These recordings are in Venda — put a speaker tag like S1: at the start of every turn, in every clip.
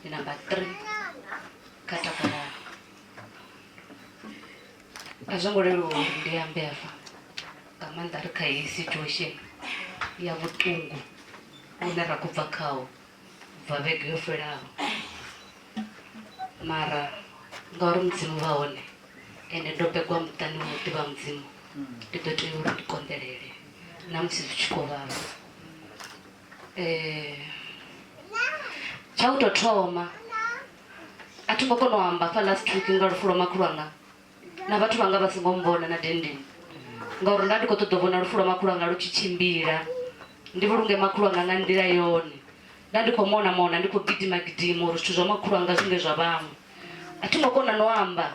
S1: di number three kha takalala a zwo ngo leluwa uri ndi ambe hafha nga maanḓa ri kha heyi situation ya vhuṱungu une ra khou bva khawo bva vhege yo fhelaho mara ngauri mudzimu vha hone ende ndo begwa muṱani wa muḓi vha mudzimu ndi ḓo tea uri ndi konḓelele na musi zwi tshi khou vhavha eh, tsha u tou thoma a thi ngo kona u amba fa last week nga lufu lwa makhulu anga na vhathu vhanga vha songo mbona na dendeni ngauri nda ndi khou ṱoḓa u vhona lufu lwa makhulu anga lu tshi tshimbila ndi vhulunge makhulu anga nga nḓila yone nda ndi khou mona mona ndi khou gidima gidima uri zwithu zwa makhulu anga zwinge zwa vhaṅwe a thi ngo kona no amba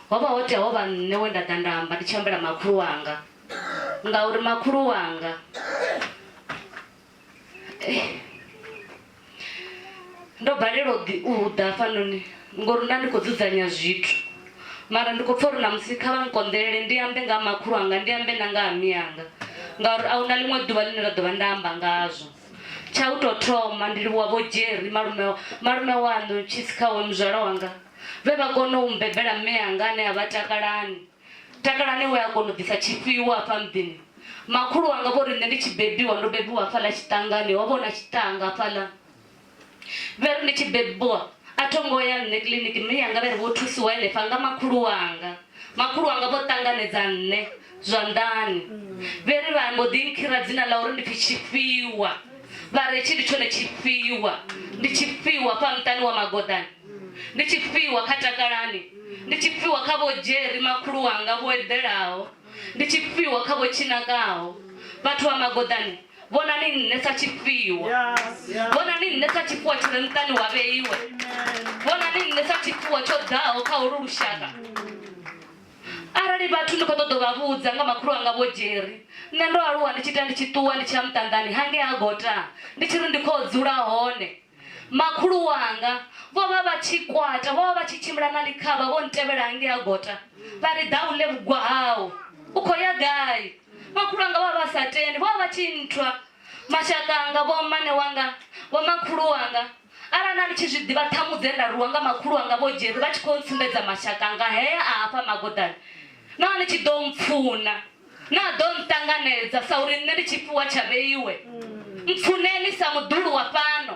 S1: ho vha ho tea ho vha nṋe we nda ḓa nda amba ndi tshi ambela makhulu anga Ngauri makhulu wanga ndo balelwa u ḓi- u ḓa hafhanoni ngori nda ndi khou dzudzanya zwithu mara ndi khou pfha uri namusi kha vha nkonḓelele ndi ambe nga ha makhulu anga ndi ambe na nga ha miyanga ngauri a huna ḽiṅwe ḓuvha ḽine nda ḓovha nda amba ngazwo tsha u tou thoma ndi livhuwa vho jerry malume malume waṋu tshisi khawe muzwala wanga vhe vha kona u mbebela mme anga ane a vha takalani Takalani we a kona u ḓisa tshifhiwa hafha muḓini. Makhulu wanga vho ri nṋe ndi tshi bebiwa ndo bebiwa hafhaḽa tshiṱangani, ho vha hu na tshiṱanga hafhaḽa. Vhe ri ndi tshi bebiwa a tho ngo ya nṋe kiḽiniki, mme yanga vhe ri vho thusiwa henefha nga makhulu wanga. Makhulu wanga vho ṱanganedza nṋe zwanḓani, vhe ri vha mbo ḓi nkhira dzina ḽa uri ndi pfi Tshifhiwa, vha ri hetshi ndi tshone tshifhiwa, ndi tshifhiwa hafha muṱani wa Magoḓani. Ndi tshifhiwa kha Takalani. Ndi tshifhiwa kha Vho Jerry makhulu wanga vho eḓelaho. Ndi tshifhiwa kha Vho Tshinakaho. Vhathu vha Magoḓani, vhonani nṋe sa tshifhiwa. Vhonani nṋe sa tshifhiwa tshi re muṱani wa vheiwe. Vhonani nṋe sa tshifhiwa tsho ḓaho kha holu lushaka. Arali vhathu ndi khou ṱoḓa u vha vhudza nga makhulu wanga Vho Jerry, nṋe ndo aluwa ndi tshi ita ndi tshi ṱuwa ndi tshi ya muṱanḓani hangei ha Gota ndi tshi ri ndi khou dzula hone. Makhulu wanga vho vha vha tshi kwata, vho vha vha tshi tshimbila na ḽikhavha vho ntevhela hangei ha gota vha ri, Ḓa u ḽe vhugwa hau. U khou ya gai? Makhulu wanga vho vha vha sa tendi, vho vha vha tshi nthwa. Mashaka anga, vhommane wanga, vhomakhulu wanga, arali na ni tshi zwi ḓivha ṱhamu dze nda rwiwa nga makhulu wanga Vho Jerry vha tshi khou ntsumbedza mashaka anga hea a hafha magodani, no vha ni tshi ḓo mpfuna. naa ḓo nṱanganedza sa uri nṋe ndi tshifhiwa tsha vheiwe mpfuneni sa muḓulu wa fhano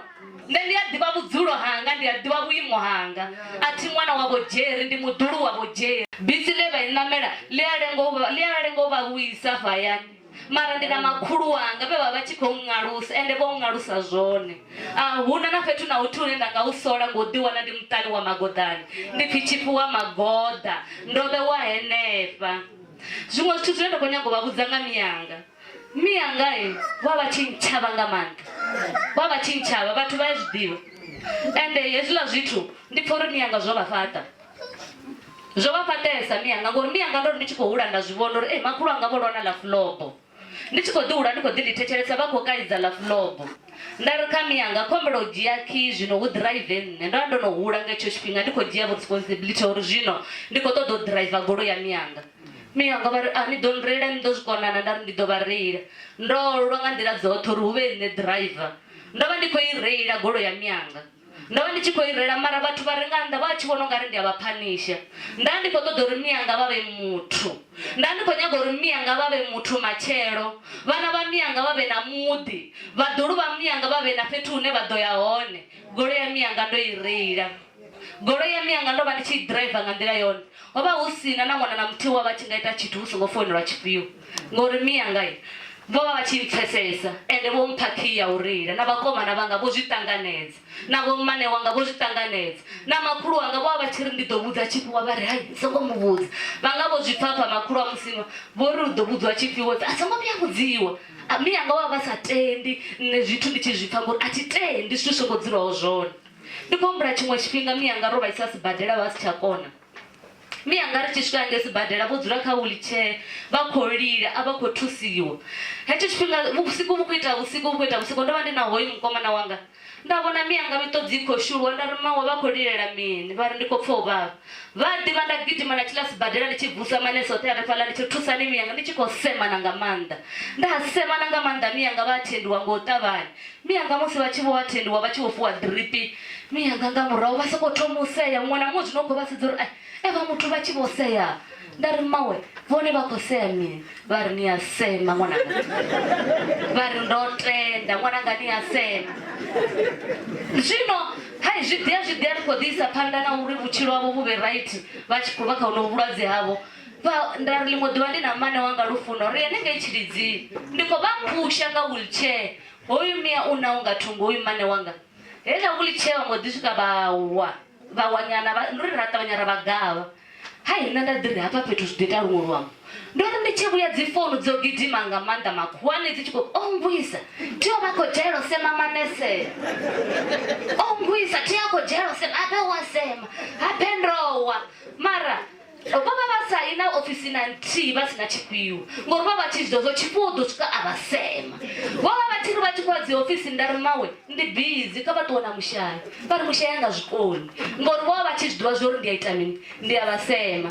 S1: nṋe ndi a ḓivha vhudzulo hanga ndi a ḓivha vhuimo hanga a thi ṅwana wa vhodzheri ndi muḓulu wa vhodzheri bisi ḽe vha i ṋamela ḽi a lenga u vha- ḽi a lenga u vha vhuisa afho hayani mara ndi na makhulu wanga vhe vha vha tshi khou ṅalusa ende vho ṅalusa zwone a huna na fhethu na huthihi hune nda nga u sola ngo ḓiwana ndi muṱani wa magoḓani ndi pfi tshifhiwa magoḓa ndo vhewa henefha Zwiṅwe zwithu zwine nda khou nyaga u vha vhudza nga mianga. Mianga vha vha tshi ntshavha nga maanḓa, vha vha tshi ntshavha, vhathu vha ya zwi ḓivha. Ende hezwiḽa zwithu ndi pfha uri mianga zwo vha fhaṱa, zwo vha fhaṱesa mianga ngori mianga ndo ri ndi tshi khou hula nda zwi vhona uri makhulu anga vho lwa na ḽa fulobo. ndi tshi khou ḓi hula ndi khou ḓi ḽi thetshelesa vha khou kaidza ḽa fulobo nda ri kha miyanga khombela u dzhia khi zwino hu ḓiraive nṋe ndo vha ndo no hula nga hetsho tshifhinga ndi khou dzhia responsibility uri zwino ndi khou ṱoḓa u ḓiraiva golo ya miyanga miyanga vha ri a ah, ni ḓo nreila ni ḓo zwi konana nda ri ndi ḓo vha reila ndo lwa nga nḓila dzoṱhe uri hu vhe nṋe ḓiraiva ndo vha ndi khou i reila golo ya miyanga ndo vha ndi tshi khou i rela mara vhathu vha re nga nnḓa vha tshi vhona u nga ri ndi a vha phanisha nda ndi khou ṱoḓa uri miyanga vha vhe muthu nda ndi khou nyaga uri miyanga vha vhe muthu matshelo vhana vha miyanga vha vhe na muḓi vhaḓulu vha miyanga vha vhe na fhethu hune vha ḓo ya hone golo ya miyanga ndo i reila golo ya miyanga ndo vha ndi tshi i driver nga nḓila yone Ho vha hu si na na ṅwana na muthihi we a vha a tshi nga ita tshithu hu songo founelwa tshifhio, ngauri mme anga vho vha vha tshi mpfesesa, ende vho mpha khiyi ya u reila, na vhakomana vhanga vho zwi ṱanganedza, na vhommane wanga vho zwi ṱanganedza, na makhulu wanga vho vha vha tshi ri ndi ḓo vhudza tshifhiwa vha ri hai ni songo mu vhudza, vha nga vho zwi pfapfa makhulu a Musinwa vho ri u ḓo vhudziwa tshifhiwa a songo vhuya a vhudziwa. Mme anga vho vha vha sa tendi nṋe zwithu ndi tshi zwi pfa ngori a thi tendi zwithu zwi songo dzulaho zwone. Ndi khou humbula tshiṅwe tshifhinga mianga ro vhaisa sibadela vha si tsha kona mianga ri tshi swika hange sibadela vho dzula kha wheelchair vha khou lila a vha khou thusiwa hetsho tshifhinga vhusiku vhu khou ita vhusiku vhu khou ita vhusiku ndo vha ndi na hoyu mukomana wanga nda vhona mianga miṱodzi i khou shuluwa nda ri mawe vha khou lilela mini vha ri ndi khou pfha u vhavha Vha a ḓivha nda gidima na tshila sibadela ndi tshi vusa manese oṱhe hanefhaḽa ndi tshi thusani miyanga ndi tshi khou semana nga maanḓa. Nda semana nga maanḓa miyanga vha a thendiwa nga u ṱavhanya. Miyanga musi vha tshi vho wa thendiwa vha tshi vho fhiwa ḓiripi. Miyanga nga murahu vha sokou thoma u sea muṅwe na muṅwe zwino u khou vha sedza uri ai evha muthu vha tshi vho sea. nda ri mawe vhone vha khou sea mini vha ri ni a sema ṅwananga vha ri ndo tenda ṅwananga ni a sema zwino hai zwi ḓia zwi ḓia ri khou ḓiisa phanḓa na uri vhutshilo havho vhu vhe right vha tshi khou vha kha hono vhulwadze havho nda ri ḽiṅwe ḓuvha ndi na mane wanga lufuno ri ene ngei tshilidzini ndi khou vha phusha nga wheelchair hoyu mia u na u nga thungo hoyu mane wanga heila vhuli tshee vha mbo ḓi swika vhawa vhawanyana ndi ri ra ṱavhanya ra vhagavha hai nṋe nda ḓi ri hafha fhethu zwi ḓo ita luṅwe luambo ndo ri ndi tshi vhuya dzi founu dzo gidima nga maanḓa makhuwani dzi tshi khou o ngwisa thi o vha khou dzhaelo sema manesea o ngwisa thi a khou dzhaelo sema abe wa sema habe ndowa mara vho vha vha sa yi na ofisi na nthihi vha si na tshifhiwa ngori vha vha tshi zwi ḓo zwo tshifhiwa u ḓo swika a vha sema vho vha vha tshi ri vha tshi khou ya dzi ofisini nda ri mawe ndi bizi kha vha ṱuwe na mushayi vha ri mushayi anga zwikoni ngori vho vha vha tshi zwi ḓivha zwori ndi a ita mini ndi a vha sema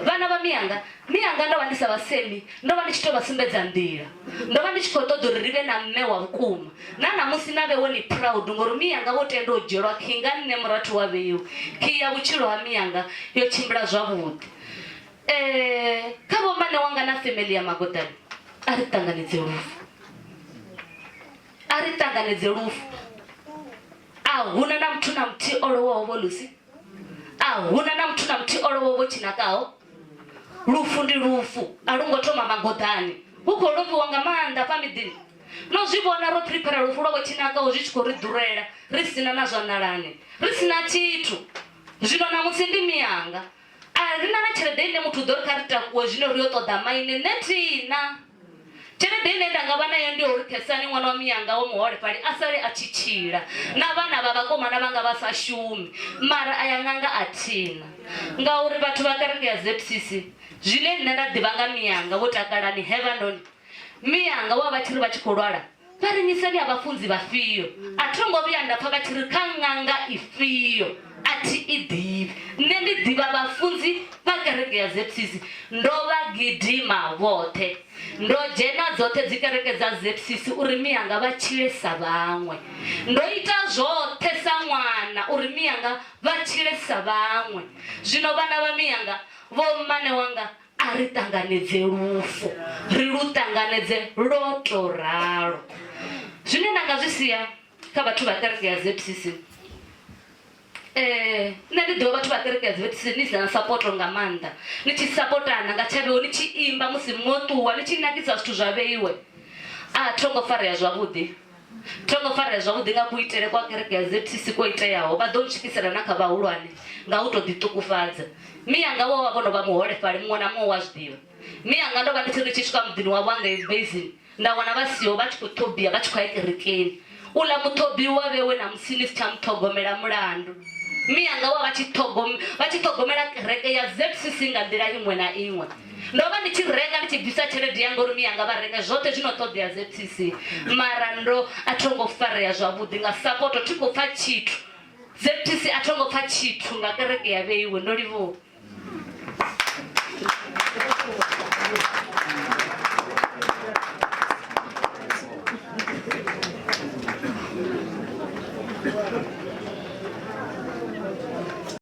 S1: vhana vha miyanga miyanga ndo vha ndi sa vha semi ndo vha ndi tshi tou vha sumbedza nḓila ndo vha ndi tshi khou ṱoḓa uri ri vhe na mme wa vhukuma na ṋamusi na vhe wo ni proud ngori miyanga vho tenda u dzhielwa khi nga nṋe murathu wa vheiwa khi ya vhutshilo ha miyanga yo tshimbila zwavhuḓi um kha vhombane wanga na family ya magodani a ri ṱanganedze lufu a ri ṱanganedze lufu a huna na muthu na muthihi o lowaho vho lusi a huna na muthu na muthihi o lowaho vho tshinakaho lufu ndi lufu a lu ngo thoma magoḓani hu khou lofhiwa nga maanḓa fha miḓini no zwi vhona ro prepara lufu lwo vhothinakaho zwi tshi khou ri ḓurela ri sina na zwanḓalani ri sina tshithu zwino ṋamusi ndi miyanga a ri na na tshelede ine muthu u ḓo ri kha ri takuwe zwino ri yo ṱoḓa maine nṋe thina Tshelede ine nda nga vha nayo ndi ya uri Khesani ṅwana wa mianga wa muholefhali a sale a tshi tshila na vhana vha vhakomana vha nga vha sa shumi. Mara aya ṅanga a thina ngauri vhathu vha kereke ya ZCC zwine nṋe nda ḓivha nga mianga vho takalani, Heavenoni mianga wa vha tshi ri vha tshi khou lwala Vha ri, Ni seli ha vhafunzi vhafhio? A tho ngo vhuya nda pfa vha tshi ri kha ṅanga ifhio, A thi i ḓivhi. Nṋe ndi ḓivha vhafunzi vha kereke ya Zepsisi. Ndo vha gidima vhoṱhe. Ndo dzhena dzoṱhe dzikereke dza Zepsisi uri mianga vha tshile sa vhaṅwe. Ndo ita zwoṱhe sa ṅwana uri mianga vha tshile sa vhaṅwe. Zwino vhana vha mianga, vhommane wanga A ri ṱanganedze lufu, ri lu ṱanganedze lwo to ralo. Zwine nda nga zwi sia kha vhathu vha kereke ya ZCC, eh nṋe ndi ḓivha vhathu vha kereke ya ZCC ni si na support nga maanḓa ni tshi sapotana nga tshavheo ni tshi imba musi mwo ṱuwa ni tshi nakisa zwithu zwa vheiwe a tho ngo farea zwavhuḓi Tsho ḓo farea zwavhuḓi nga kuitele kwa kereke ya ZCC kwo iteaho, vha ḓo u tshikisela na kha vhahulwane nga u tou ḓiṱukufhadza. Mme anga vho vha vho no vha muholefhali, muṅwe na muṅwe u a zwi ḓivha. Mme anga ndo vha ndi tshi ri tshi swika muḓini wavho wa ngei Basing, nda wana vha siho, vha tshi khou ṱhobia vha tshi khou ya kerekeni. Uḽa muṱhobi u a vhewe ṋamusi ni si tsha mu ṱhogomela mulandu. Mme anga vho vha vha tshi ṱhogomela kereke ya ZCC nga nḓila iṅwe na iṅwe. Ndo vha ndi tshi renga ndi tshi bvisa tshelede yanga uri miyanga vha renge zwoṱhe zwino ṱoḓea ZCC mara ndo a tho ngo farea zwavhuḓi nga sapoto thi khou pfa tshithu ZCC a tho ngo pfa tshithu nga kereke ya vheiwe ndo livhuwa